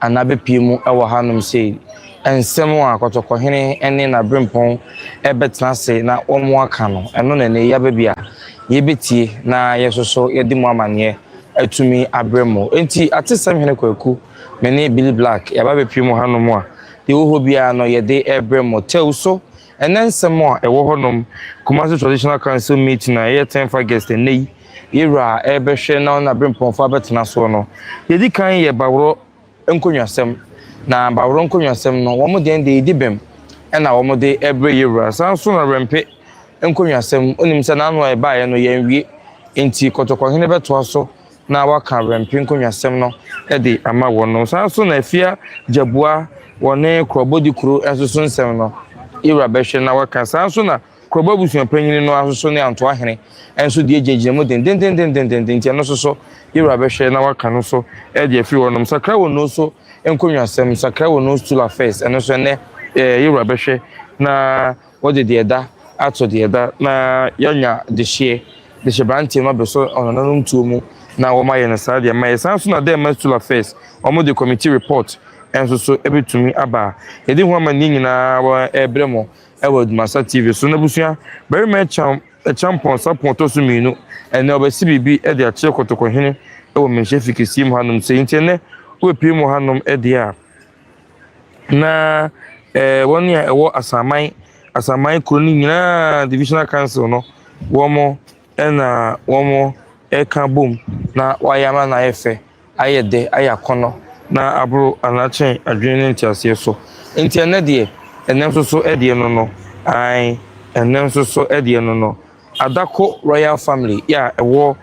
Anna bepue mu wɔ hanom sei. Nsɛm a Kɔtɔkɔhene ne n'aberempɔn rebɛtena ase na wɔaka no, ɛno na ɛnnɛ yɛaba bi a yɛbɛtie na yɛso so yɛde mu amanneɛ atumi abrɛ mo. Enti Atesɛm Hene Kwaku, me ne Billy Black, yɛaba bepue mu hanom a, deɛ ɛwɔ hɔ biara no yɛde rebrɛ mo. Tew so Ɛnnɛ nsɛm a ɛwɔ hɔnom, Kumasi Traditional Council meeting a ɛyɛ tenth August ɛnnɛ yi, yɛwura a ɛrebɛhwɛ na ɔne Aberempɔnfoɔ abɛtena soɔ no, yɛdi kan yɛ Baworɔ nkonnwasɛm, na Baworɔ nkonnwasɛm no wɔn deɛn deɛ ɛdi bem ɛna wɔn de ɛrebrɛ yɛwura. Saa nso na Wɛmpe nkonnwasɛm, wonim sɛ n'ano a ɛbaeɛ no yɛanwie, nti Kɔtɔkɔhene bɛtoa so na wɔaka Wɛmpe nkonnwasɛm no de ama wɔn no. Saa nso na Afia Gyabua wɔ ne Kurɔbɔdi kuro nso so nsɛm no Ira bɛhwɛ na wɔaka. Saa nso na Kurɔbɔ abusua panyin no nso so ne Antoahene nso deɛ gyinagyina mu dendendendendenden nti ɛno nso so Ira bɛhwɛ na wɔaka no nso de afiri hɔ nom. Sakra Wɔn Nose so nkonnwasɛm, Sakra Wɔn Nose Stool Affairs, ɛno nso ɛnnɛ Ira bɛhwɛ na Wɔde deɛ ɛda ato deɛ ɛda na yɛanya dehyeɛ de hyɛ branteɛ no ma bɛsɔ ɔnananom tuo mu na wɔma yɛ no saa deɛ ma yɛ saa nso na dɛɛma school affairs wɔn de committee report nso so bɛtumi aba a yɛde ho amanneɛ nyinaa wɔ ɛrebrɛ mo wɔ adwumasa TV so n'abusua barima ɛkyam ɛkyampɔn sapon ɔtɔ so mmienu ɛnɛ ɔbɛsi biribi de akyerɛ kɔtɔkɔhene wɔ mmɛnhyɛ fi kɛseɛ mu hanom sɛ nti ɛnɛ wobɛpie mu hanom deɛ a Na ɛɛ wɔn a ɛwɔ asaman asaman kuro no nyinaa divisional council no wɔn na wɔn ɛka bom na wɔayɛ ama no ayɛ fɛ ayɛ dɛ ayɛ akɔnɔ na aboro anakyɛn adwene ne nteaseɛ so nti ɛnɛ deɛ ɛnɛ nso so ɛdeɛ no no ae ɛnɛ nso so ɛdeɛ no no Adako Royal Family yi a ɛwɔ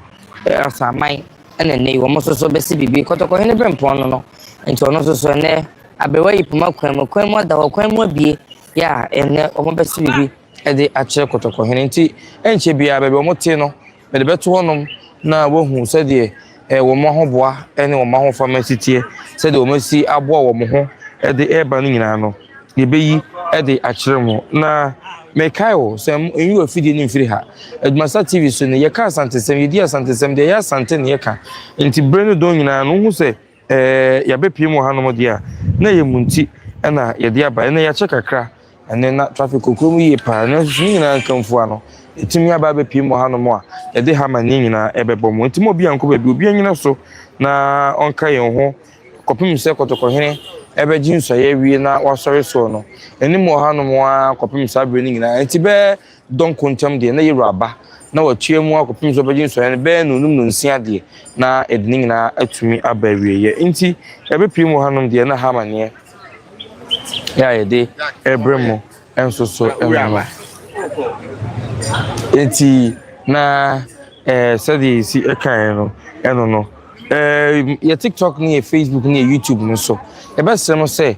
Asaman na nnɛ yi wɔn nso so bɛsi biribi. Kɔtɔkɔhene Berempɔn no no nti ɔno nso so nnɛ aberewa yi poma kwan mu, kwan mu ada hɔ, kwan mu abue yɛ a nnɛ wɔn bɛsi biribi de akyerɛ Kɔtɔkɔhene nti ɛnkyɛ biara baabi a wɔte no mede bɛto hɔnom na wɔahu sɛdeɛ wɔn ahoboa ne wɔn ahofama asiteɛ sɛdeɛ wɔn asi aboa wɔn ho de reba no nyinaa no, yɛbɛyi de akyerɛ mo. Na mekae o, sɛ nyi w'afidie no mfiri ha. Adwumasa TV so no, yɛka asantesɛm, yɛdi asantesɛm, deɛ ɛyɛ asante na yɛka. Nti bere no dɔn nyinaa no, wohu sɛ ɛɛ yɛabɛpue mu wɔ hanom deɛ a, na ɛyɛ mo nti na yɛde aba. Ɛnnɛ yɛakyɛ kakra. Ɛnnɛ, na trafik kokoam yiye paa, nanso ne nyinaa nka mfua no, yɛatumi aba abepue mu wɔ hanom a, yɛde hammer ne nyinaa rebɛbɔ mu. Enti ma obiara nkɔ baabi, obiara nnyina so na ɔnka yɛn ho kɔpem sɛ Kɔtɔkɔhene bɛgye nsuaeɛ awie na wasɔre soɔ no. Anim wɔ hanom ara kɔpem saa bere no nyinaa. Enti bɛyɛ dɔ nko ntam deɛ, na Yero aba, na watua mu ara kɔpem sɛ ɔbɛgye nsɔeɛ no bɛyɛ nnɔnum nnɔnsia deɛ, na ɛde ne nyinaa atumi aba awieeɛ. Nti, ɛberɛ pii mu wɔ hanom deɛ, na ha amanneɛ a yɛde rebrɛ mo nso so no no. Nti, na eh, sɛdeɛ yɛsi kaeɛ no, ɛno no. Eh, yɛ TikTok ne yɛ Facebook ne yɛ YouTube no so, yɛbɛsrɛ mo sɛ,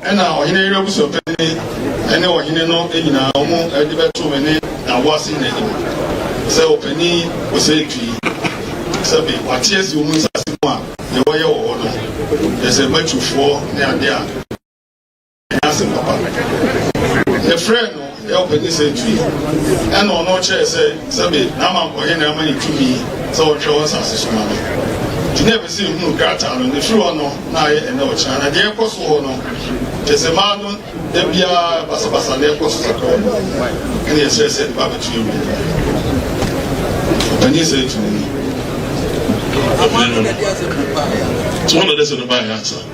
Ɛnna ɔhene yere abusuapanin ne ɔhene no nyinaa, wɔde bɛtoo me ne Naboase nyinaa anim sɛ ɔpanin ɔsɛetu yi, sɛ me, wɔate asi wɔn nsase mu a deɛ wɔyɛ wɔ hɔ no, kyerɛ sɛ Matewfoɔ ne adeɛ a, ɛnyɛ asɛm papa. Mefrɛɛ no. Ɛyɛ ɔpɛ ne sɛ tui. Ɛnna ɔno kyerɛe sɛ sɛbe na mankɔ he na ama ne tumi sɛ ɔhwɛ wɔ asase so ma me. Nti na ɛpɛ sɛ ehunu krataa no. Ne firi hɔ no, na ayɛ ɛnnɛ ɔkyena. Na deɛ ɛkɔ so hɔ no, kyerɛ sɛ mmaa no da biara basabasa na ɛkɔ so kakra wɔ mu. Ɛnna yɛsrɛ sɛ ɛde ba abɛto yɛn mu. Ɔpanin sɛ tumi ni. Afei no, tumi na ɛde sɛ no baeɛ ansa.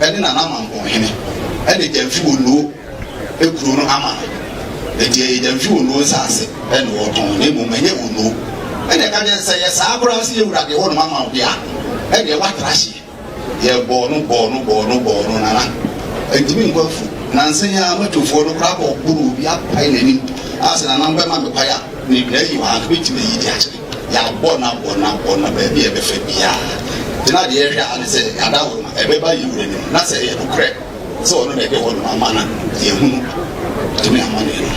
ne Nana Mampɔnhene de Gyamfi Onuo kuro no ama no. Enti ɛyɛ Gyamfi Onuo nsase na wɔtɔn na mmom ɛnyɛ Onuo. Ɛna ɛka kyerɛ sɛ yɛ saa koraa sɛ yɛwura deɛ hɔnom ama wo deɛ a, ɛdeɛ woatra hyeɛ. Yɛbɔɔ no bɔɔ no bɔɔ no bɔɔ no Nana antumi nkɔ afu. Nansa yi ara motofoɔ no koraa kɔboroo obi apae n'anim a sɛ Nana wobɛma me kwan a, meyi wɔ ha nso mɛtumi ayi de akyɛ. Yɛabɔ no abɔ no abɔ no baabi a ɛbɛfa biara. Nti na deɛ yɛhwɛ ara ne sɛ ada hɔ no ɛbɛba yɛn wura anim na sɛ ɛyɛ nokorɛ sɛ ɔno na ɛde hɔnom ama no a, yɛahunu tumi amanneɛ no.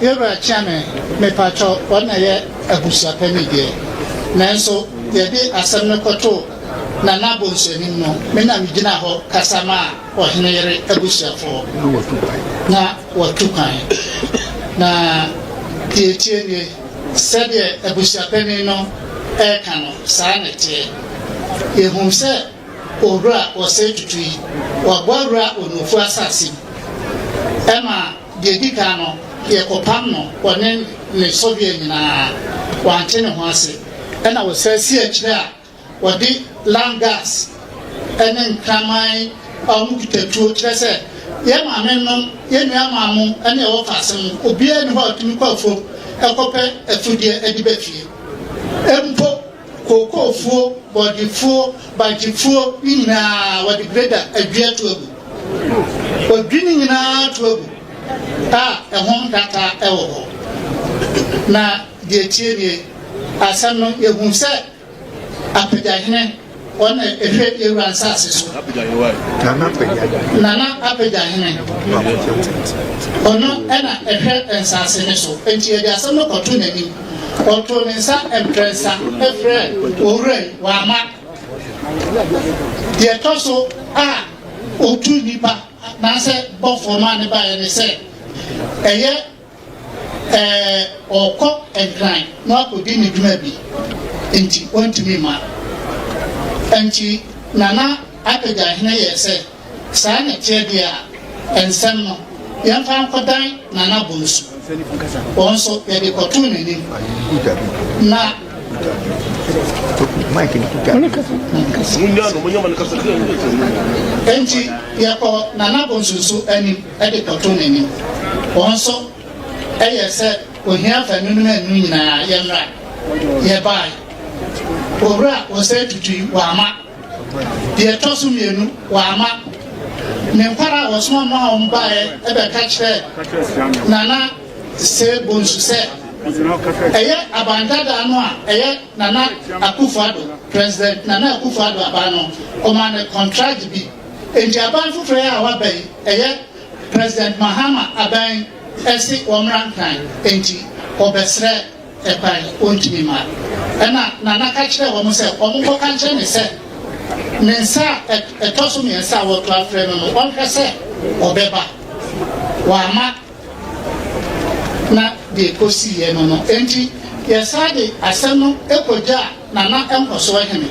Yɛwura Kyeame, mepakyɛw, wɔn na ɛyɛ abusuapanin deɛ, nanso yɛde asɛm no kɔtoo Na na bonsu anim no, me na migyinaa hɔ kasa maa ɔhene yere abusuafo. Na wɔatu kwan. Na wɔatu kwan. Na deɛ ɛteɛ nie, sɛdeɛ abusuapanin no reka no, saa na ɛteɛ. Yɛhuu sɛ Owura Osei Tutu yi, waboa Wura Onuofu asase mu. Ɛma deɛ ɛdi kan no, yɛkɔpam no, ɔne ne sɔhwɛ nyinaa. Wante ne ho ase. Ɛnna wɔsan sii akyire a Wɔde lime gas ne nkraman a wɔkita tuo kyerɛ sɛ, Yɛn maamenom, yɛn nuammaanom ne ɛwɔ faase no, obiara nni hɔ a ɔtumi kɔ afuom kɔpɛ afudeɛ de ba fie. Mpo kookoofuo, bɔɔdefuo, bagyefuo no nyinaa, wɔde greda adwi ato agu. Wɔdwi ne nyinaa to agu a ɛho nkrataa wɔ hɔ. Na Deɛ ɛtie nie, asɛm no, yɛhunu sɛ Apagya Hene, ɔno na ɛhwɛ yɛn wura nsase so. Nana Apagya Hene, ɔno na ɛhwɛ nsase no so. Enti yɛde asɛm no kɔto n'anim. Ɔtoo ne nsa mprɛnsa frɛ owura yi, wama. Deɛ ɛtɔ so a ɔtu nnipa anaasɛ bɔfoɔ ma ne baeɛ ne sɛ ɛyɛ Ɛɛ, ɔrekɔ Nkran na wakɔdi ne dwuma bi nti ɔntumi mma. Nti Nana Apɛgyahene yɛɛ sɛ, saa na ɛteɛ deɛ a, nsɛm no, yɛmfa nkɔdan Nana Bonsu. Wɔn nso, yɛde kɔtoo n'anim. Na. Nti yɛkɔɔ Nana Bonsu nso anim. de kɔto n'anim. Wɔn nso yɛ sɛ ohia fa nnwunu na nnwunu nyinaa yɛ mmra. Yɛbae. Owura Osei Tutu wama. Deɛ ɛtɔ so mmienu wama. Ne nkwara a wɔsoma maa wɔn baeɛ ɛbɛka kyerɛɛ Nana Sey Bonsu sɛ ɛyɛ abandadaa no a ɛyɛ Nana Akufo-Addo, President Nana Akufo-Addo aba no, ɔmaa no kɔntragye bi. Enti aban foforɔ yi a waba yi, ɛyɛ President Mahama aban yi se wɔmmra nkran, enti wɔbɛsrɛ kwan, wɔntumi mma. Ɛna Nana ka kyerɛɛ wɔn sɛ wɔnkɔka nkyerɛ me sɛ ne nsa a ɛtɔ so mmiɛnsa a wɔreto afrɛ no no, ɔnhwɛ sɛ ɔbɛba. Wamma. na deɛ ɛkɔsiiɛ no no nti, yɛsan de asɛm no kɔgyaa Nana Nkɔsoɔ Hene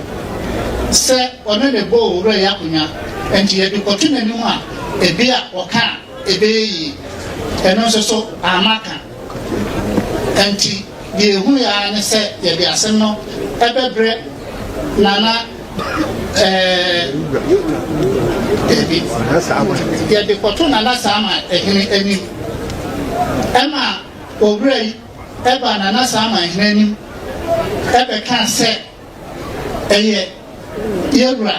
sɛ ɔne no bɔɔ Owura yi akonnwa nti yɛde kɔto n'anim a ebia ɔka a ɛbɛyɛ yie. Ɛno nso so amma ka nti deɛ ɛhuiɛ ara ne sɛ yɛde asɛm no bɛbrɛ Nana dabi yɛde kɔto nana saama ɛhene anim ɛma owura yi ɛba nana saama ɛhene anim ɛbɛka sɛ ɛyɛ yɛwura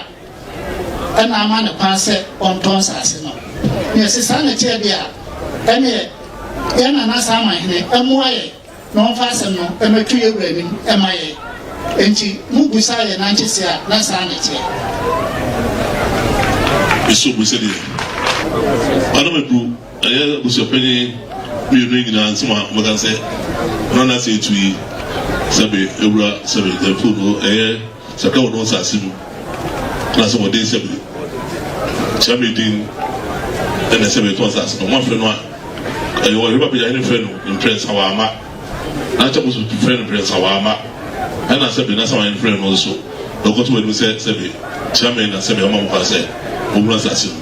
ɛna ama ne kwan sɛ ɔntɔ nsase no na ɛsesa ne kyerɛ deɛ ɛneɛ yɛn nana saama ɛhene ɛmoa yɛ na ɔmfa asɛm no mmɛto yɛn wura anim mma yɛn. Enti, mubisa yɛn nankyese a, na saa na ɛteɛ. Nso hu sɛdeɛ Madam Adu, ɛyɛ abusuapanyin mmienu yi nyinaa nsɛm a wɔbɛka sɛ, Nana sɛ etu yi, sɛbe awura, sɛbe ɛfu no, ɛyɛ Sɛ ka wɔn nsase mu na sɛ wɔde nsɛm yi kyerɛ me din na ɛsɛ metɔ nsase no moafrɛ no a ɛyɛ wɔ hema pagya hene frɛ no mprɛnsa wɔ ama na kyɛ mo so frɛ no mprɛnsa wɔ ama ɛna sɛ me na sɛ wɔn frɛ no nso na ɔkɔto anim sɛ sɛ me kyerɛ me na sɛ me ama mo kwan sɛ mo wura nsase mu.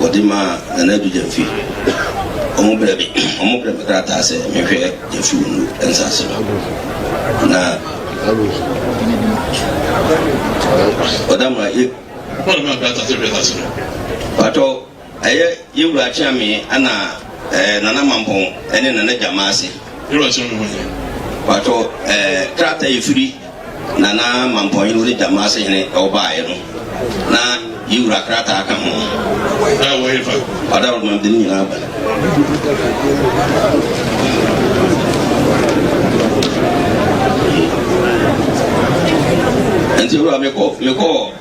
wɔde maa Nana Adu Gyamfi. Wɔn brɛ me wɔn brɛ me krataa sɛ menhwɛ Gyamfi Wungu nsase no na ɔda ma yɛ. Wɔn de maa krataa sɛ hwɛ nsase no. Patɔ ɛyɛ yɛ wura Akyeame ɛna ɛɛ Nana Mampɔn ɛne Nana Gyamaase. Yɛ wura Akyeame hɔn yɛ. Patɔ ɛɛ krataa efiri. Na na Mampɔnhene Ode Gyama Asehene wɔ baeɛ no, na yi wura krataa ka ho. Na wɔ he fa? Ɔda wɔ mamde no nyinaa ba. Nti wura mekɔ mekɔ.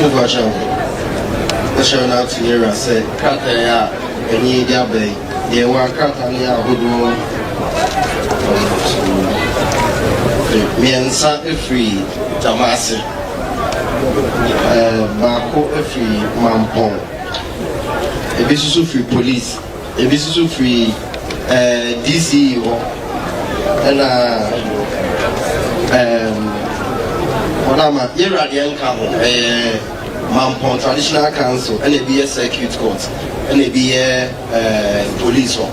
Mepakyɛw, kyerɛ no ato yɛn wura sɛ krataa yi a ɛne yɛn de aba yi, deɛ ɛwɔ a krataa no yɛ ahodoɔ mmiɛnsa firi Tamase, ɛɛ baako firi Mampɔn, ebi nso firi polisi. Ebi nso so firi ɛɛ DCE hɔ, ɛna ɛɛm wɔn a ma yɛwura deɛ nka ho ɛyɛ Mampɔn Traditional Council, ɛna ebi yɛ Circuit Court, ɛna ebi yɛ ɛɛm Police hɔ,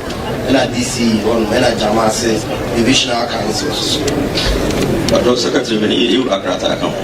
ɛna DCE hɔ nom, ɛna Gyamase Divisional Council nso so. Ɔdɔ Secretary bɛ ne yɛwura krataa ka ho.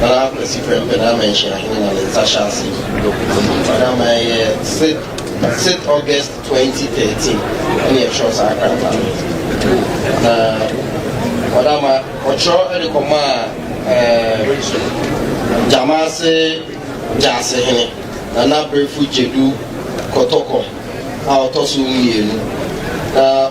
Bala Kwesi Prempeh na ama Nhyira Hene ma ne nsa hyɛ ase yi. Ɔno ama ɛyɛ Sep. Sep. August 2013 ɛna yɛtwerɛɛ saa krataa no. Na ɔno ama ɔtwerɛ de kɔmaa ɛɛ Gyamase Gyaase Hene Nana Berfo Gyadu Kɔtɔkɔ a ɔtɔ so mmienu na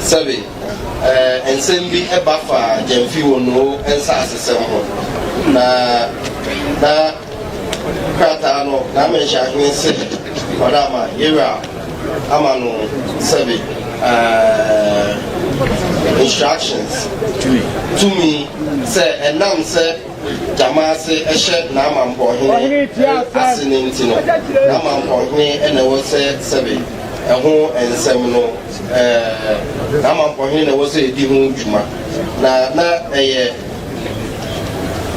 Sɛbe nsɛm bi ba fa Gyamfi Wonoo nsasesɛm ho, na na krataa no n'amenhyɛahene se ɔde ama Yewura ama no sɛbe instructions, tumi, sɛ ɛnam sɛ gyama ase hyɛ n'amampɔhene ase no nti no, n'amampɔhene na ɛwɔ sɛ sɛbe ɛho nsɛm no, ɛɛ, n'amampɔhene na ɛwɔ sɛ edi ho dwuma. Na na ɛyɛ,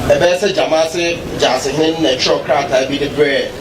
ɛbɛyɛ sɛ gyama ase gyaasehene na ɛtwerɛw krataa bi de brɛɛ.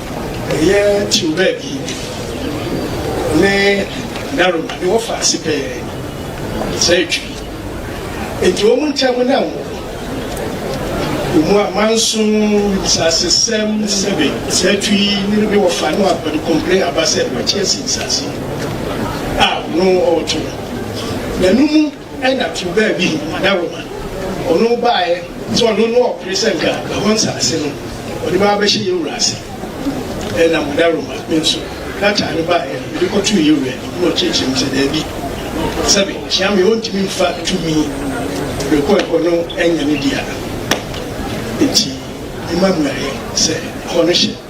Ɛyɛ kyew baabi ne Naroma ne wɔfa ase pɛɛ sɛ Twi. Enti wɔn ntam na awo wɔ mu a manso nsasesɛm sɛbe sɛ Twi ne ne wɔfa ne wɔafa ne kɔmpire aba sɛ wɔakyi asi nsase a ɔno ɔɔto no. Na no mu. Ɛna too baa bi na Roma ɔno baaɛ sɛ ɔno no ɔpere sɛ nka ɛhɔ nsaase no ɔde bɛba abɛhyɛ yɛn wura ase. Ɛna mo da Roma me nso na taa no baaɛ no mede kɔ too yɛn wura anim na ɔkyerɛkyerɛ me sɛ daabi sɛ me hyia me ɔntumi mfa tumi mede kɔ ɛhɔ no ɛnyɛ ne dea. Enti me ma mmuaɛ sɛ ɛhɔ no hyɛ.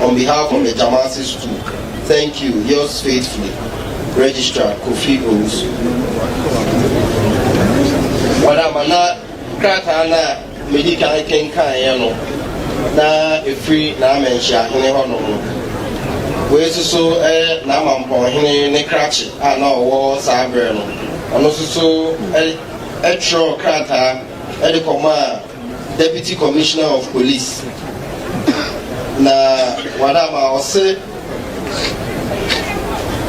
on behalf of the Jamasi school thank you yours faithfully registrar Kofi Owusu. Wɔn amana krataa na medi kan kenkan yɛ no na efiri n'amɛnhyiahene hɔ nom no. Wei soso ɛyɛ n'amampɔnhene ne krakye a na ɔwɔ saa berɛ no. Ɔno soso ɛtwerɛ krataa ɛde kɔmaa. Deputy Commissioner of Police, na wɔada ama ɔse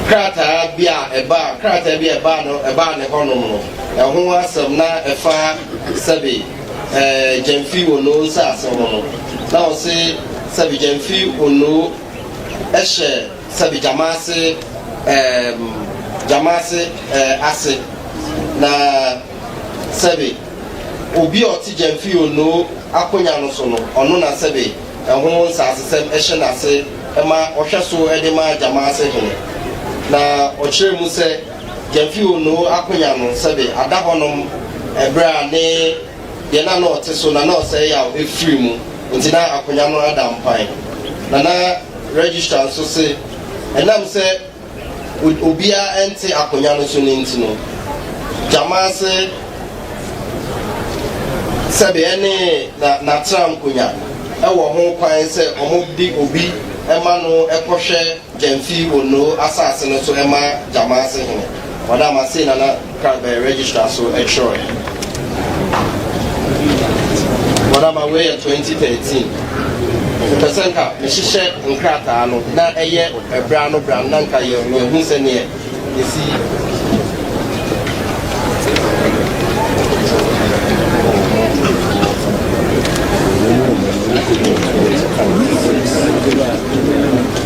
krataa bi a ɛbaa krataa bi a ɛbaa no ɛbaa ne hɔnom no ɛho asɛm na ɛfa sɛbe ɛɛ gyamfi ono nsaase ho no na ɔse sɛbe gyamfi ono ɛhyɛ sɛbe gyamaase ɛɛm gyamaase ɛɛ ase na sɛbe Obi a ɔte Gyamfi Onoo akonya no so no, ɔno na sɛbe ɛho nsasesɛm hyɛ n'ase ma ɔhwɛ so de ma Gyamaase hene. Na ɔkyerɛɛ mu sɛ Gyamfi Onoo akonya no sɛbe ada hɔnom ɛberɛ a ne deɛ na na ɔte so na na ɔsɛe yaw firi mu nti na akonya no ada mpan. Nana Registrar nso se ɛnam sɛ. Obiara nte akonwa no so no nti no, gyama ase sɛbe ɛne n'atram konwa wɔ ho kwan sɛ wɔde obi ma no kɔhwɛ Gyamfi Onoo asase no so ma gyama ase hene. Wɔn a masei na na. Ka bɛn register so kyerɛw yɛn. Wɔn ama wei yɛ twenty thirteen. Mepɛ sɛ nka mehyehyɛ nkrataa no na ɛyɛ ɛbrɛ ano brɛ ano na nka yɛ yɛhu sɛ neɛ esi. Thank you.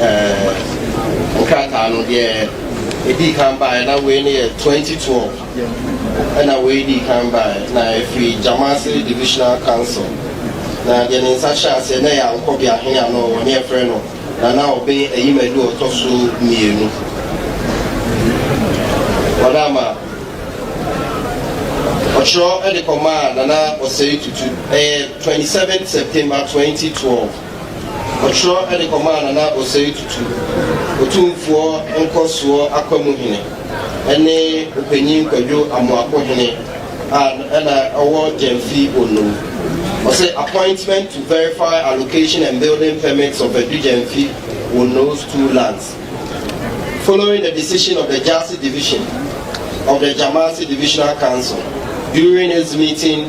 Ɛɛ nkrataa no deɛ ɛdii kan baeɛ na wei no yɛ 2012 ɛna wei dii kan baeɛ na ɛfiri Jamasi Divisional Council na deɛ ne nsa hyɛ aseɛ na ɛyɛ ankɔbea hene a na ɔwɔ ne ɛfrɛ no Nana Obeng Ayimadu ɔtɔ so mmienu wɔn ama ɔkyerɛ de kɔmaa Nana Osei Tutu ɛyɛ 27 September 2012 Ɔtwerɛ de kɔmaa Nana Osei Tutu, Otumfoɔ Nkɔsoɔ Akwamu Hene ne Ɔpanyin Kwadwo Amoako Hene a na ɔwɔ Gyamfi Bono. Ɔse appointment to verify allocation and building permits of Adu Gyamfi Bono's two lands following the decision of the Gyasi Division of the Gyamasi Divisional Council during its meeting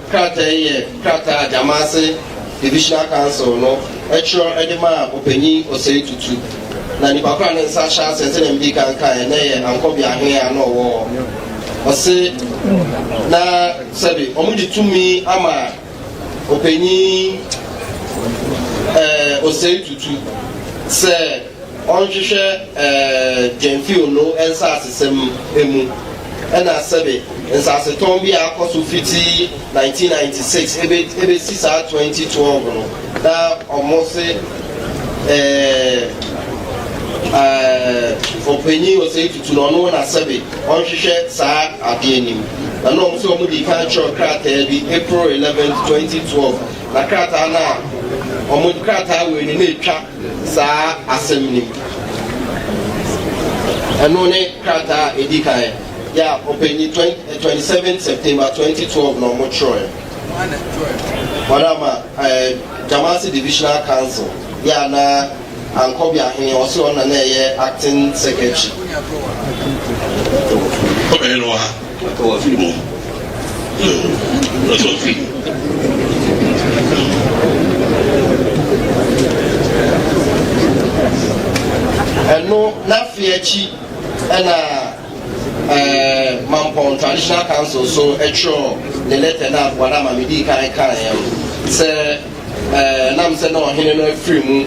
Krataa yi yɛ krataa a Gyamase Divisional Council no twerɛ de maa Ɔpanyin Osei Tutu, na nnipa ko a ne nsa ahyɛ aseɛ sɛdeɛ medi kan kaeɛ na ɛyɛ Ankorbea Hene a na ɔwɔ hɔ. Ɔse na sɛbe wɔde tumi ama Ɔpanyin ɛɛ Osei Tutu sɛ. Ɔnhwehwɛ Gyamfio no nsasesɛm mu na sɛbe nsasetɔn bi a akɔ so fiti 1996 ebesi saa 2012 no na wɔse ɛɛ Ɔpanyin Osei Tutu na ɔno na sɛbe ɔnhwehwɛ saa ade anim na na wɔse wɔn di kan kyerɛw krataa bi April 11, 2012 na krataa no a wɔn krataa wei no na etwa saa asɛm no mu. Ɛno ne krataa a ɛdi kan yɛ a ɔpanyin 27 September 2012 na wɔtwerɛɛ. Wɔn ama ɛɛ Jamasi Divisional Council yɛ a na Ankɔbi Ahene ɔsɛ ɔna na ɛyɛ acting secretary. Ɔbɛyɛ no wɔ ha. Aka w'afiri mu hmm, na so mfiri. Ɛno n'afe akyi ɛna eh, Mampɔn Traditional Council so ɛtwerɛ ne lɛtɛ na wɔn ama mi di kan kan yɛn sɛ eh, nam sɛ na ɔhene no afiri mu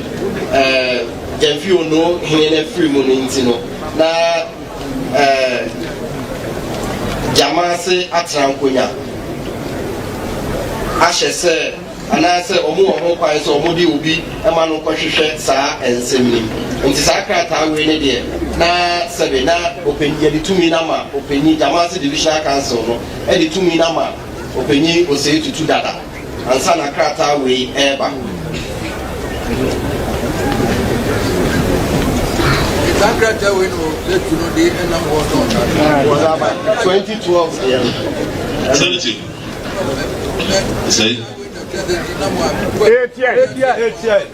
eh, yɛn fi ono hene no afiri mu no nti no na. gyama ase atena nkonya ahyɛ sɛ anaasɛ wɔn wɔ ho kwan sɛ wɔn de obi ma no kɔhwehwɛ saa nsɛm yi nti saa krataa wei ne deɛ na sɛbe na ɔpanyin yɛde tumi na ma ɔpanyin gyama ase divisional council no ɛde tumi na ma ɔpanyin osei tutu dada. ansa na krataa wei reba. saa krataa wei no yɛtu no de ɛnam hɔ no ɔdaba 2012 deɛ no sɛnti sɛi ɛtiɛ ɛtiɛ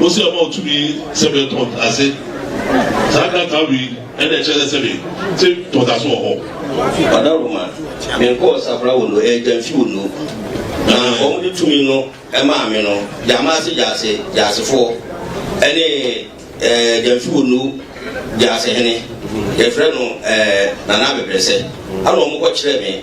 Wose ɔma wo tumi sɛ bɛ tɔ ntase. Saa krataa wei ɛna ɛkyerɛ sɛ sɛbe te tɔ ntase wɔ hɔ. Ɔdawuruma, me nkɔɔ Sabra wo no, ɛyɛ Gyamfi wo no. Na wɔn de tumi no maa me no, Gyamase Gyase Gyasefoɔ ɛne ɛɛ Gyamfi wo no Gyase hene, yɛfrɛ no ɛɛ Nana Abɛbrɛsɛ, ɛna wɔn kɔ kyerɛɛ me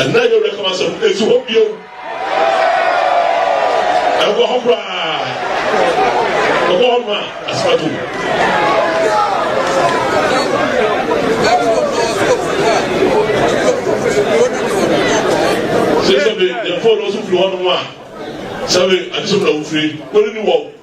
Ɛnnɛ yɛ werɛ kam asɛm ɛsi hɔ bio. Ɛwɔ hɔ koraa. Ɛwɔ hɔ ma asɛm Sɛ sɛ bi yɛn fɔlɔ nso firi hɔ nom a sɛ bi adesom na wofiri wɔn ni wɔn.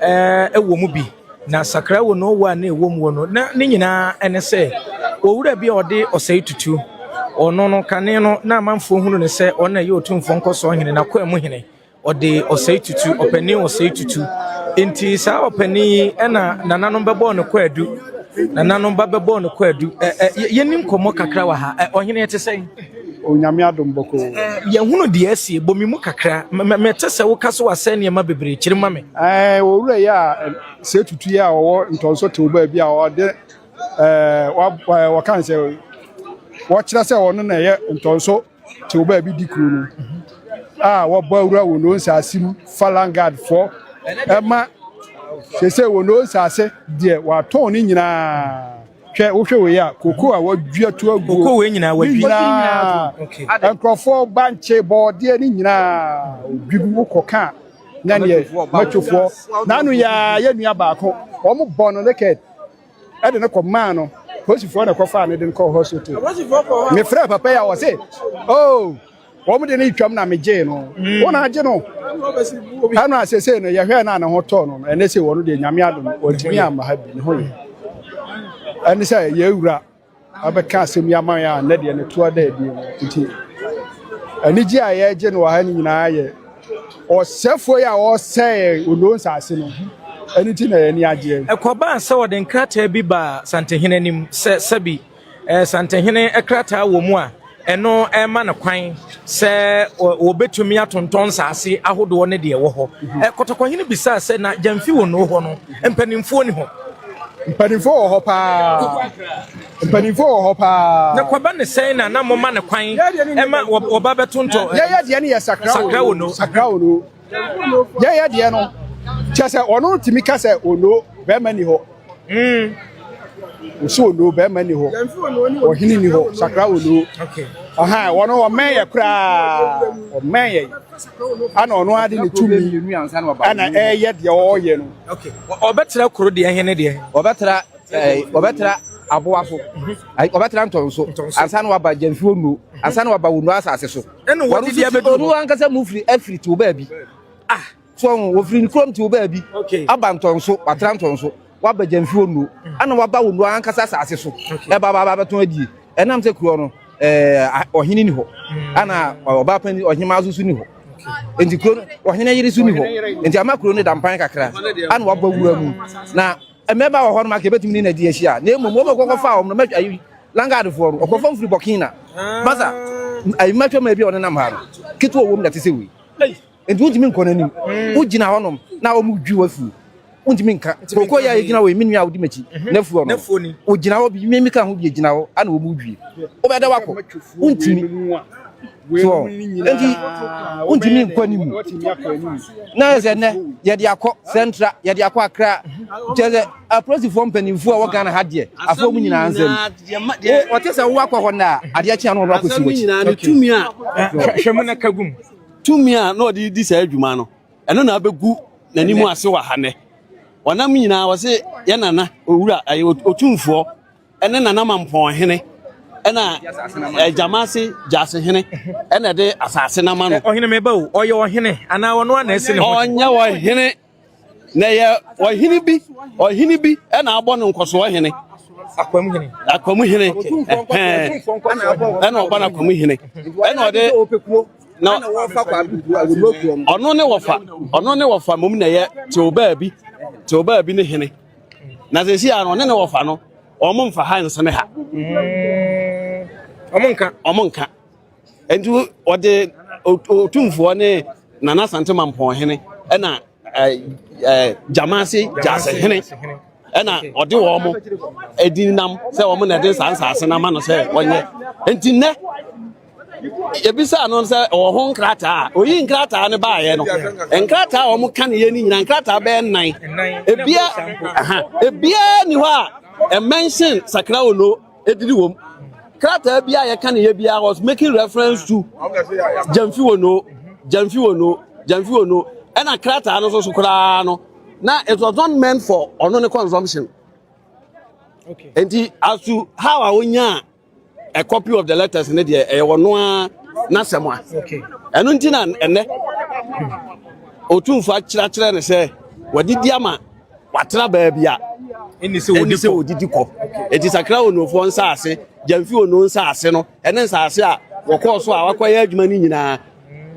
eh, wɔ mu bi, na sakra wɔ no wɔ a na ɛwɔ mu wɔ no. Na ne nyinaa ne sɛ, owura bi a ɔde ɔsɛe tutu. Ɔno no, kane no, na amanfoɔ hunu no sɛ ɔno na ɛyɛ otumfoɔ nkɔsoɔ hene, n'akoa mu hene. Ɔde ɔsɛe tutu, ɔpanin ɔsɛe tutu. Enti saa ɔpanin yi na nananom bɛbɔɔ no kwaadu. Nananom ba bɛbɔɔ no kwaadu. Ɛ, ɛ, yɛni nkɔmmɔ kakra wɔ ha. Ɛ, ɔhene ɛte sɛn? Onyame adom bɔkɔɔ. Yɛhunu deɛ asie, bɔ me mu kakra ma mɛte sɛ woka so asɛe nneɛma bebree, kyere ma me. Ɛɛ owura yi a sɛ tutu yi a ɔwɔ ntɔnso tew baabi a ɔde ɛɛ wɔka sɛ wɔkyerɛ sɛ ɔno na ɛyɛ ntɔnso tew baabi di kuro no a wɔbɔ awura wɔ no nsaase mu falangard fɔ ɛma sɛ sɛ wɔ no nsaase deɛ wɔatɔn ne nyinaa. Hwɛ, wohwɛ wei a, koko a wɔadua to aguo. Koko wei nyinaa wɔadwi. Ne nyinaa, nkurɔfoɔ bankye, bɔɔdeɛ, ne nyinaa odwi gu wokɔ ka na neɛ mɛtofoɔ. N'ano yaa yɛ nua baako, wɔn bɔ no naked, ɛde no kɔ maa no, polisifoɔ na ɛkɔ faa no de no kɔ hospital. Mefrɛ papa yi a wɔse, oh. Wɔn de no retwam na megyee no. Mm. Wɔn agye no. Ɛna asese no yɛhwɛ na ne ho tɔ no no. Ɛne sɛ wɔn deɛ nyame adom wɔntumi amma ha bi ne ho yɛ. Ɛne sɛ yɛwura abɛka asɛm yi ama yɛ a nnɛ deɛ ne toa da adie no nti anigye a yɛregye no wɔ ha no nyinaa yɛ ɔsɛfoɔ yi a ɔsɛe onoo nsase no ɛno nti na yɛn ani agyeɛ. Ɛkɔbaa sɛ wɔde nkrataa bi baa Santehene anim sɛ sɛbi Santehene krataa wɔ mu a, ɛno ma no kwan sɛ wɔbɛtumi atontɔn nsaase ahodoɔ ne deɛ ɛwɔ hɔ. Mhm. Kɔtɔkɔhene bisaa sɛ, na gyamfi wɔ noo hɔ no, mpanimfoɔ ni hɔ? Mpanimfoɔ wɔ hɔ paa. Mpanimfoɔ wɔ hɔ paa. Na kwaba ne sɛn na na moma no kwan ɛma wɔba bɛtontɔ. Yɛyɛ deɛ ne yɛ sakra wɔ noo. Sakra wɔ noo. yɛyɛ deɛ no kyɛ sɛ ɔno tumi ka sɛ onoo bɛrima ni hɔ ɔsi onoo bɛrima ni hɔ ɔhene ni hɔ sakra onoo ɔno ɔmɛn yɛ koraa ɔmɛn yɛ ana ɔno ade ne tumi ana ɛyɛ deɛ ɔyɛ no ɔbɛtra kuro deɛ hene deɛ ɔbɛtra ɔbɛtra aboa so ɔbɛtra ntɔn so ansa na waba gyamfi onoo ansa na waba onoo asase so ɛna wɔde deɛ bɛdu hɔ ɔno ankasa mu firi afiri te wo baabi ah so ɔho wɔfiri ne kurom te wo baabi aba ntɔnso watra ntɔnso waba gyamfi wɔ nuo ɛna waba wo nuo ankasa asase so ɛba ba bɛtɔn adie ɛnam sɛ kuroɔ no ɔhene ni hɔ ɛna ɔbaa pani ɔhemaa so so ni hɔ nti kuro ɔhene yere so ni hɔ nti ama kuro no da mpan kakra ana wabɔ wura mu na Mmarima wɔ hɔ nom a nka yɛbɛtumi ne no adi ahyia, na mmom wɔn a wɔkɔfaa wɔn no, mɛtwa ayi Langardfoɔ no, ɔkɔfa mfiri Burkina na Bassa, ayi mɛtwa mu ebi a ɔnenam ha no, ketewa wɔ mu na ɛte sɛ wei. Nti wontumi nkɔ n'anim, wogyina hɔ nom na wɔdwi w'afuo, wontumi nka. Kooko yɛ a yɛgyina hɔ yi, me nua a wodi m'akyi, n'afuo no, wogyina hɔ, me meka ho bi, yɛgyina hɔ a na wɔdwi, wobɛda wakɔ, wontumi. so enti wontumi nkɔ anim na yɛ sɛ nnɛ yɛde akɔ central yɛde akɔ akra kyɛ sɛ apolisifoɔ mpanimfoɔ a wɔgana ha deɛ afoɔ mu nyinaa nsɛm ɔte sɛ wowakɔ hɔ no a adeɛ kyea no wɔbɛakɔsi wakyi hwɛ mu na ka gum tumi a na ɔde di saa adwuma no ɛno na abɛgu n'anim ase wɔ ha nnɛ ɔnam nyinaa ɔse yɛ nana owura ɔtumfoɔ ne Nanamampɔn hene na Gyamase Gyase hene na ɛde asase no ama no. Ɔhene me ba o, ɔyɛ ɔhene anaa ɔno a na ɛsi ne ho? Ɔnyɛ ɔhene, na ɛyɛ ɔhene bi, ɔhene bi na abɔ no nkɔsoɔ hene. Akwam hene. Akwam hene. Ɛna ɔbɔ no akwam hene. Ɛna ɔde na ɔno ne wɔfa ɔno ne wɔfa mmom na ɛyɛ teobaa bi teobaa bi ne hene na sɛsi a no ɔne ne wɔfa no ɔmo mfa ha nsene ha ɔmo nka ɔmo nka nti ɔde otumfoɔ ne nana asante mampɔn hene ɛna gyamase gyase hene ɛna ɔde wɔn mo ɛdi nam sɛ wɔn na ɛde saa nsaase no ama no sɛ wɔnyɛ nti nnɛ yɛbisaa no sɛ ɔwɔ ho nkrataa a oyi nkrataa no baeɛ no nkrataa a wɔn kan yɛ no nyinaa nkrataa bɛyɛ nnan ebia ebia ni hɔ a ɛmɛnhyɛn sakra ono edidi wɔm krataa bi a yɛka ne yɛ bi a was making reference to gyamfi ono gyamfi ono gyamfi ono ɛna krataa no soso koraa no na it was not meant for ɔno ne consumption nti as to how a wonya a. a copy of the letters ne deɛ ɛyɛ wɔn a n'asɛm a ɛno nti na ɛnɛ otumfoɔ akyerɛkyerɛ ne sɛ wɔdidi ama watra baabi a ɛni sɛ wɔdidi kɔ eti sakra onufoɔ nsaase gyamfi onu nsaase no ɛne nsaase a wɔkɔɔ so a wakɔyɛ adwuma no nyinaa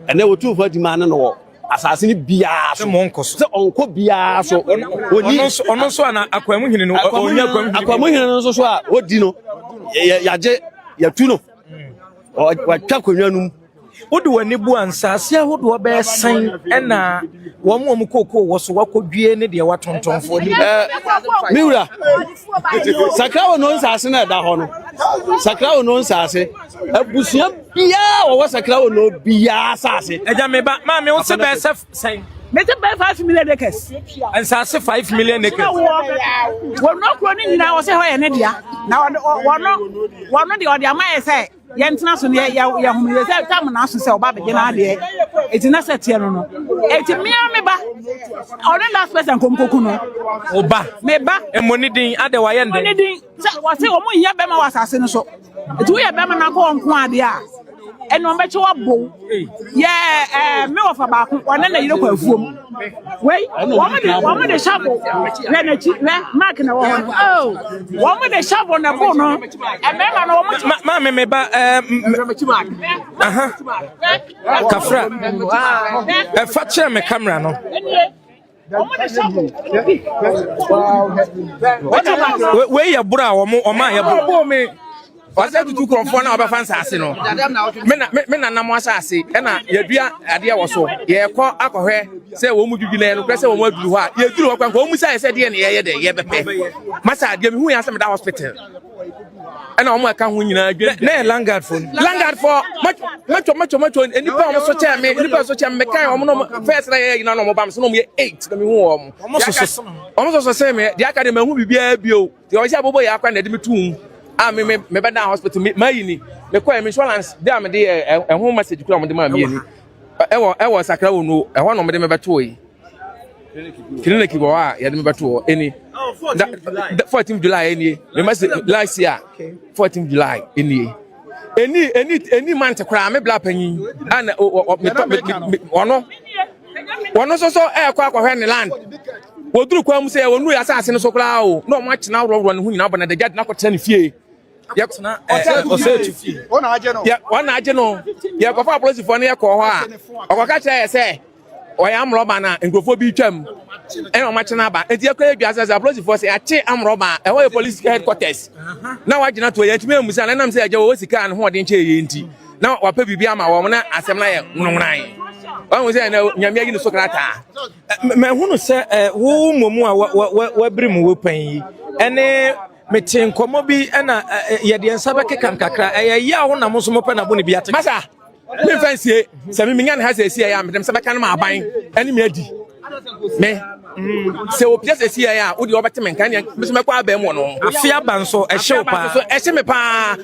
ɛnɛ otumfoɔ adi maa ne no wɔ asase no biara so. Sɛ ɔnkɔ biara so. Ɔni. Ɔno nso ana akwaamu hene no. Ɔnya akwaamu hene. Akwaamu hene no nso so a ɔdi no yagye yatu no. Watwa akonnwa no mu. Wode w'ani bu a nsaase ahodoɔ bɛyɛ sɛn ɛna wɔn wɔn kookoo wɔ so wakɔdwie ne deɛ watontonfoɔ ni. Me wura sakra wɔ no nsaase na ɛda hɔ no sakra wɔ no nsaase abusua biara a wɔwɔ sakra wɔ no biara asase. Agya me ba, maame wo se bɛɛ sɛ sɛn? Mete bɛɛ five million acres. Nsase five million acres. Wɔn okuro ne nyinaa wɔsɛ hɔ yɛ ne dea. Na wɔn wɔn wɔn deɛ wɔde ama yɛ sɛ yɛn tena so no yɛ yɛ yɛ hom yɛ sɛ tam na aso sɛ ɔba abɛgye n'adeɛ. Eti na sɛ teɛ no no. Eti mmea me ba. Ɔne last person kɔm kɔku no. Ɔba. Me ba. Mmɔ ne din adɛ wayɛ ndɛ. Mmɔ ne din sɛ wɔse wɔn nyia bɛma wɔ asase no so. nti woyɛ bɛrima na kɔ nko ade a ɛne ɔbɛkyɛ wabow yɛ ɛɛ me wɔfa baako wɔne na yere kɔ afuom wei wɔn de wɔn de hyabo wɛ n'akyi wɛ mark na ɛwɔ hɔ no oh wɔn de hyabo na bo no ɛbɛrima no wɔn kyɛ. maa mi mi ba ɛɛ aha kafra ɛfa kyerɛ mi kamera no. wei yɛ boro a wɔn wɔn a yɛ boro wɔsɛ tutu kurɔfoɔ na wɔbɛfa nsaase no me na nam asaase ɛna yɛdua adeɛ wɔ so yɛkɔ akɔhwɛ sɛ wɔn mu dwidwi na yɛn korɛ sɛ wɔn aduru hɔ a yɛduru hɔ kwan wɔn mu sɛ ayɛ sɛ deɛ na yɛyɛ dɛ yɛbɛpɛ masa adeɛ mehu yɛn asɛ meda hospital ɛna wɔn ɛka ho nyinaa dwen. na yɛ langard fo. langard fo mɛtɔ mɛtɔ mɛtɔ nipa wɔn so kyɛn mi nipa so kyɛn mi kan wɔn nom fɛs na yɛ nyinaa na wɔn ba mi so na wɔn yɛ eight na mi hu wɔn. wɔn soso wɔn soso sɛn mi deɛ aka de ma ehu bibiara bi o deɛ ɔhyɛ abobo yɛ akora na ɛde mi tu mu a mi mi mi bɛ da hospital mi maa yi ni mi kɔ yɛ mi insurance de a mi de yɛ ɛho message kura wɔn de maa mi yɛ ni. ɛwɔ ɛwɔ sakra wɔ nuo ɛhɔ na wɔde me bɛtoo yi clinic wɔ hɔ a yɛde me bɛtoo hɔ ɛni da fourteen july ɛni mɛma se last year fourteen july ɛni ɛni ɛni ɛni mant koraa me bla panyin ɛna ɔno ɔno nso so ɛɛkɔ akɔhwɛ ne land wɔduru kwan mu sɛ wɔnu yɛ asase no so koraa o na wɔn akyena aworɔworɔ ne ho nyinaa bɔ na dagya de no akɔtena ne fie yɛ tena ɛɛ ɔsɛɛtu fie wɔn na agye no yɛ wɔn na agye no yɛ kɔfa apolisifoɔ no yɛ kɔɔ hɔ a ɔkɔka kyerɛ yɛ sɛ ɔyɛ amorɔba na nkurɔfoɔ bi twam ɛna wɔn akyena aba eti ɛkɔ yɛ dua sɛ sɛ apolisifoɔ sɛ yɛakye amorɔba a ɛhɔ yɛ polisi headquarters na wagyina to yɛ tumi amusa na ɛnam sɛ ɛgya wɔ sika ne ho ɔden kyɛ yɛ nti na wapɛ biribi ama wɔn na asɛm na yɛ nwonwonan ɔhu sɛ na nyame ayi ne so krataa mahunu sɛ wo mmom a wabiri mu wo pɛn yi ɛne Mete nkɔmmɔ bi na yɛde yɛn nsa bɛkeka nkakra. Ɛyɛ yaw na mo nso mopɛ na bo ne bi ate. Masa, memfa nsie sɛ me menya ne ha sɛ ɛsi ɛyɛ a medem sɛ bɛka no ma aban ɛne me adi. Me, sɛ opia sɛ ɛsi ɛyɛ a, wode wɔbɛte me nka ɛneɛ mesɛ mɛkɔ abɛn wɔ no. Afe aba nso, ɛhye wo paa. Ɛhye me paa.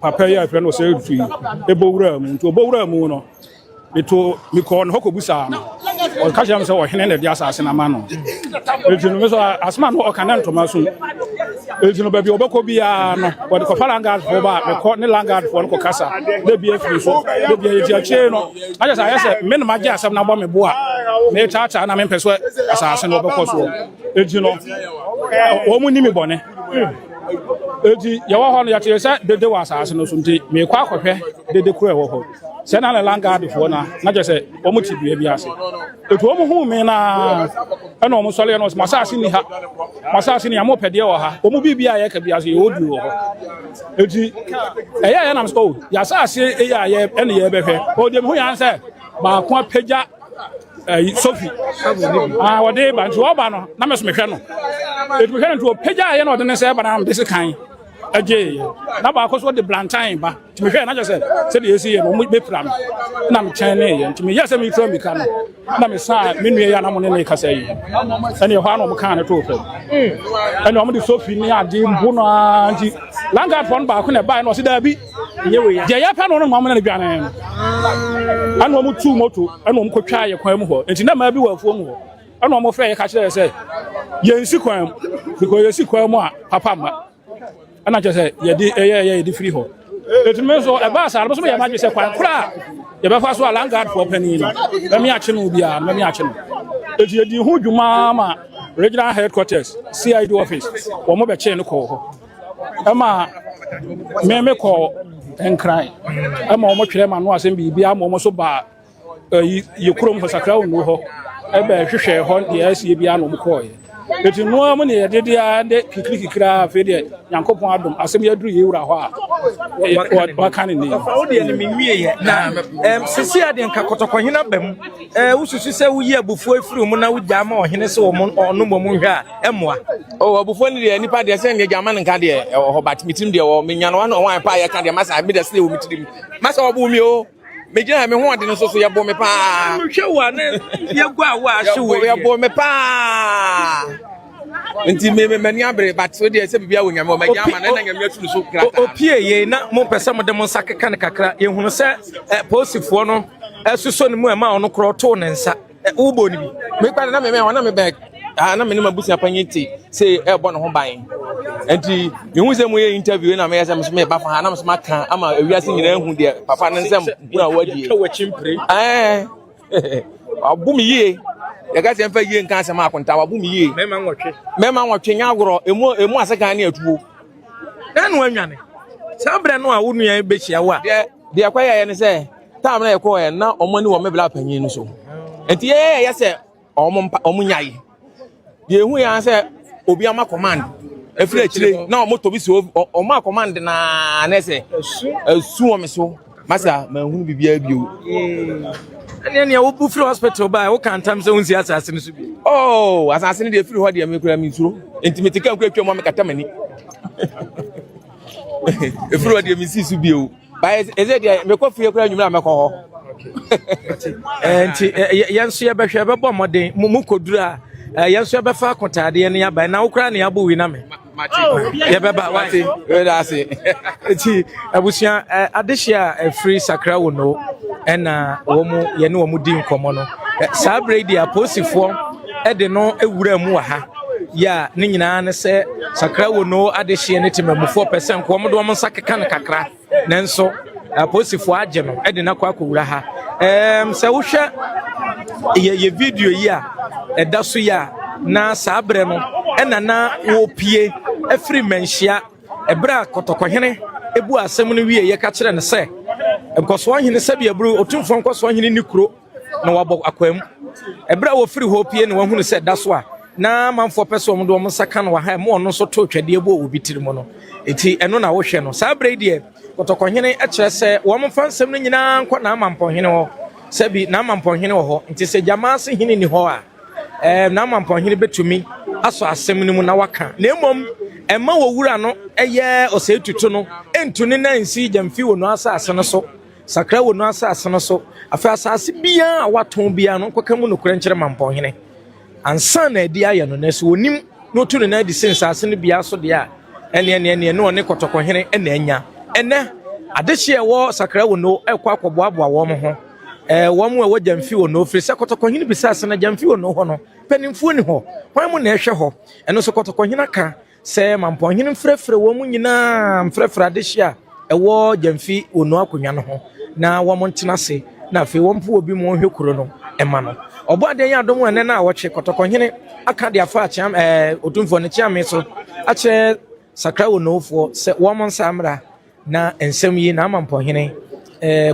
papa yi a yɛfrɛ no Ɔsɛetutu yi bɔ wuraa mu nti ɔbɔ wuraa mu no meto mekɔɔ ne hɔ kɔbusaa no ɔka kyerɛ me sɛ ɔhene na ɛde asase no ama no ɛti no me so asoma no ɔka ne ntoma so ɛti no baabi ɔbɛkɔ biara no wɔde kɔfa langardfoɔ ba a mekɔ ne langardfoɔ no kɔkasa na bi afiri so na bi ayɛti akyire no ayɛ sɛ ayɛ sɛ me na magye asɛm no abɔ me bo a metaataa na mempɛ so asase no ɔbɛkɔ soɔ ɛti no wɔn ni me bɔne Enti yɛwɔ hɔ no yɛtee sɛ dede wɔ asase no so nti mekɔ akɔhwɛ dede koro a ɛwɔ hɔ. Sɛ na ne langaadfoɔ no na kyerɛ sɛ wɔn te dua bi ase. Enti wɔn huu me na ɛna wɔn sɔreɛ no wɔn sɛ masase ni ha masase ni ha mopɛ deɛ wɔ ha wɔn biribi a yɛka bi ase yɛ ɔdi wɔ hɔ. Enti ɛyɛ yɛ nam sɛ o yɛasase ɛyɛ a yɛ ɛne yɛbɛhwɛ ɔdeɛ mehu yɛn sɛ baako apagya ɛyi sofi aa wɔde ba nti wɔba no na mɛ so mehwɛ no etu mehwɛ no nti ɔpagya yɛ na ɔde ne sɛ ba na mede se kan ɛgye yɛ na baako so ɔde blantan ba nti mehwɛ na kyɛ sɛ sɛdeɛ ɛsi yɛ no ɔmo bɛpira no na mekyɛn ne yɛ nti meyɛ sɛ metura mika no na mesaa me nua yɛ a na mo ne ne kasa yi ɛne ɛhɔ a na ɔmo kaa ne too fam ɛne ɔmo de sofi ne adeɛ mpo no ara nti langard fɔ no baako na ɛbaeɛ na ɔse daabi deɛ yɛpɛ no no ma ɔmo ne no dwane no ɛna ɔmo tu moto ɛna ɔmo kɔtwa yɛ kwan mu hɔ nti na maa bi wɔ afuo mu hɔ ɛna ɔmo frɛ yɛ ka kyerɛ yɛ sɛ yɛnsi kwan mu because yɛsi kwan mu a papa mma ɛna kyerɛ sɛ yɛde ɛyɛ ɛyɛ yɛde firi hɔ ɛtumi nso ɛbaa saa no nso yɛ madwe sɛ kwan kora a yɛbɛfa so a langaadfoɔ panin no mɛme akye no biara mɛme akye no ɛti yɛdi ho dwuma ma regional headquarters cid office wɔn bɛkyee no kɔɔ hɔ ɛma me me kɔ nkran ɛma wɔn twerɛ ma no asɛm biribi ama wɔn so baa ɛyi yɛ kurom hɔ sakra wɔn hɔ ɛbɛ hwehwɛ hɔ deɛ ɛsie bi ano wɔn kɔɔ yɛ eti noa mu ne yɛ dede ara de kikiri kikiri ara afei deɛ nyankopɔn adum asɛm yɛ duru yɛ wura hɔ a waka ne ne yɛ. ɔfa wo deɛ ne mi nwie yɛ na ɛm sisi adeɛ nka kɔtɔkɔhena bɛm ɛɛ wosusu sɛ woyi abufuo efiri mu na wogya ama ɔhene sɛ wɔn ɔnom wɔn hwɛ a. mmoa. Oh, ɔbofo no deɛ nipa deɛ sɛ ndeɛ man nka deɛ ɛwɔ hɔ but metirim deɛ wɔ menya no ano ɔwan paa yɛka deɛ masa meda sɛ wɔ metirim masa ɔbo mi o megyina me ho ɔde no so so yɛbo me paa hwɛ wo a ne yɛgu a wo a hye wo yɛbo me paa nti me me mani abere but so deɛ sɛ bibia wɔ nyame ɔma gya ama na nyame asu no so kra opie yei na mo pɛ sɛ mo de mo nsa keka ne kakra yɛhunu sɛ eh, posifoɔ no ɛsoso ne mu ɛma ɔno korɔ too ne nsa Eh, wobɔ no bi mekpa no na meme ɔna mebɛ ah, na mene mabusua panyin te sɛ ɛbɔ ne ho ban nti mehu sɛ moyɛ interview na meyɛ sɛ meso meba fa ha na meso maka ama awiase nyinaa hu deɛ papa no nsɛm hunu a wadie ɛɛ abo me yie yɛka sɛ mfa yie nka asɛm akonta wabo me yie mɛma nwɔtwe nyɛ agorɔ ɛmu ɛmu asekan ne atuo na no anwane saa berɛ no a wo nua bɛhyia wo a deɛ deɛ kɔyɛɛ ne sɛ Time na yɛkɔɔ ɛ na wɔn ani wɔ me bla panyin no so. Nti yɛyɛ yɛ sɛ wɔn mpa wɔn nyae. Deɛ ehu yɛn sɛ obi ama command efiri akyire na wɔn tɔ bi si wɔn wɔn a command naa na ɛsɛ esu wɔn me so. Masa ma ehunu bibi abio. ɛne nea wobu firi hospital baa woka ntam sɛ wonsi asase no so bi Oh, asase no deɛ efiri hɔ deɛ mekura me nsuro. Nti me te kan kura twam a mekata m'ani. Efiri hɔ deɛ mesi so bio. But is is it there? Me ko fie kura nyumra me ko ho. Enti yɛn so yɛbɛhwɛ yɛbɛbɔ mmɔden mu mu koduru a yɛn so yɛbɛfa akotaadeɛ ne yaba na wokura ne abo wi na me. Yɛbɛba wate. Wɛda ase. Enti abusua adehye a ɛfiri sakra wo no ɛna wɔn yɛne wɔn di nkɔmmɔ no. Saa bere yi deɛ apolisifoɔ ɛde no ewura mu wɔ ha. yɛ a ne nyinaa ne sɛ sakra wo no adehyeɛ ne temamufoɔ pɛ sɛ nkoa wɔde wɔn nsa keka no kakra nanso apolisifoɔ agye no de no akɔ akɔwura ha um, sɛ wohwɛ yɛ yɛ video yi a ɛda so yi a na saa berɛ no ɛna na wɔpie afiri mmanhyia ɛberɛ a kɔtɔkɔhene ebu asɛm no wie yɛka kyerɛ no sɛ nkɔsoɔ hene sɛbi aburu otumfoɔ nkɔsoɔ hene ne kuro na wɔabɔ akwaa mu. Ɛberɛ a wɔfiri hɔ pue na wɔahunu sɛ da so a na amanfoɔ pɛ sɛ wɔn de wɔn nsa ka no wɔ ha, ɛma ɔno nso too twɛdeɛ bɔɔ obi tiri mu no. Enti ɛno na wohwɛ no. Saa berɛ yi deɛ, kɔtɔkɔhene kyerɛ sɛ wɔmfa nsɛm no nyinaa nkɔ n'amampɔhene hɔ. Sɛbi n'amampɔhene wɔ hɔ, enti sɛ Gyamaase hene nni hɔ a, ɛɛ n'amampɔhene bɛtumi asɔ asɛm no mu na waka. Na mmom, ɛma wɔwura no yɛ ɔsɛetutu no, ɛntu ne nan nsi Gyamfi wɔ Nuasa ase no so. Sakra wɔ no asase no so. Afei asase biara a watɔn biara no nkɔka mu nokorɛ nkyerɛ mampɔnhene. Ansa na adi ayɛ no, nanso wɔnim na ɔtu ne nan adi sɛ nsase no biara so deɛ a, ɛneɛ neɛ neɛ ne ɔne kɔtɔkɔhene na anya. Ɛnɛ, adehye a ɛwɔ Sakra wɔ no rekɔ akɔboaboa wɔn ho, ɛɛ wɔn a ɛwɔ Gyamfi wɔ no, firi sɛ kɔtɔkɔhene bisa sɛ na Gyamfi wɔ no hɔ no, mpanimfoɔ nni hɔ, hwan mu na ɛhwɛ hɔ? Ɛno nso kɔtɔkɔhene aka. Sɛ Mampɔnhene mfrɛfrɛ wɔn nyinaa mfrɛfrɛ adehye a ɛwɔ Gyamfi Onuo Akonnwa no ho na wɔn ntena ase na afei wɔn mpo obi ma ɔnhwɛ kuro no mma no. Ɔbɔadeɛ yɛ adom a ɛnɛ na awɔtwe Kɔtɔkɔhene aka de afa Akyeame ɛɛ Otumfoɔ no Kyeame so akyerɛ Sakra Onoofoɔ sɛ wɔn nsa mmra Na nsɛm yi na ama mpɔhene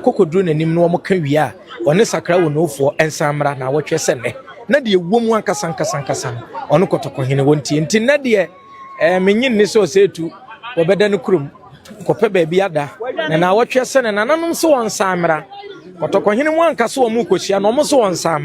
kɔkɔduru n'anim na wɔka wie a, ɔne sakra wɔ nufoɔ nsan mmra na awɔtwɛ sɛ nnɛ. Na deɛ ɛwɔ mu ankasa ankasa ankasa no, ɔne kɔtɔkɔhene wɔ ntie. Nti nnɛ deɛ, eh, mennye nni sɛ ɔsɛ etu, wɔbɛda no kurom, kɔpɛ baabi ada, na na awɔtwɛ sɛ ne nananom se wɔnsan mmra. Kɔtɔkɔhene mu anka sɛ wɔn rekɔhyia no, wɔn se wɔnsan mmra.